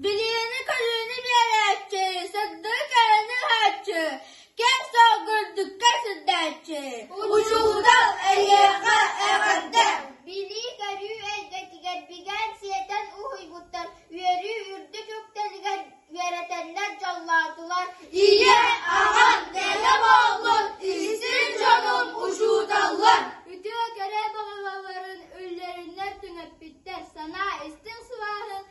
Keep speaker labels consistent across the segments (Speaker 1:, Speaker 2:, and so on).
Speaker 1: Билиини-көрүүнү биэрээччи, сырдыы кэрэни иһээччи, кэм-соҕ гырдыкка сирдээччи, учуутал эйиэхэ эҕэрдэ! Билии-көрүү эйгэтигэр бигээн сиэтэн уһуйбуттар үөрүү үрдүк үктэлигэр үөрэтэннэр дьоллоотулар. Ийэ, аҕам, бэйэ буоллун, истиҥ дьонум, учууталлар! Үтүө кэрэ баҕалаларын үллэриннэр түҥэппиттэр, санаа истиҥ сылааһын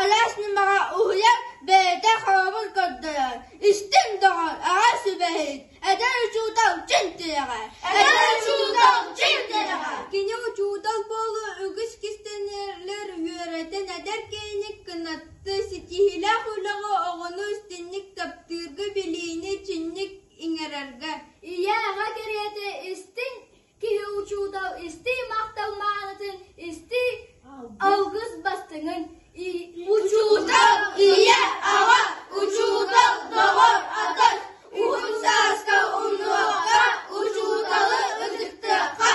Speaker 1: Алаас ньымаҕа уһуйан бэйэтэ хоробун көрдөрөр, истиҥ доҕор, аҕа сүбэһит, эдэр учуутал дьин тирэҕэр. Эдэр учуутал дьин тирэҕэр. Кини учуутал буолуу үгүс кистэнэлэр үөрэтэн эдэр киэник кынатты ситиһилээх үлэҕэ оҕону истинник таптыырга билиини чинник иҥэрэргэ ийэ аҕа кэриэтэ истиҥ Киһи учуутал истии махтал маанытын, истии алгыс бастыҥын, учуутал ийэ, аҕа, учуутал доҕор, атын, уһун сааска умнуохха, учууталы ытыктыахха.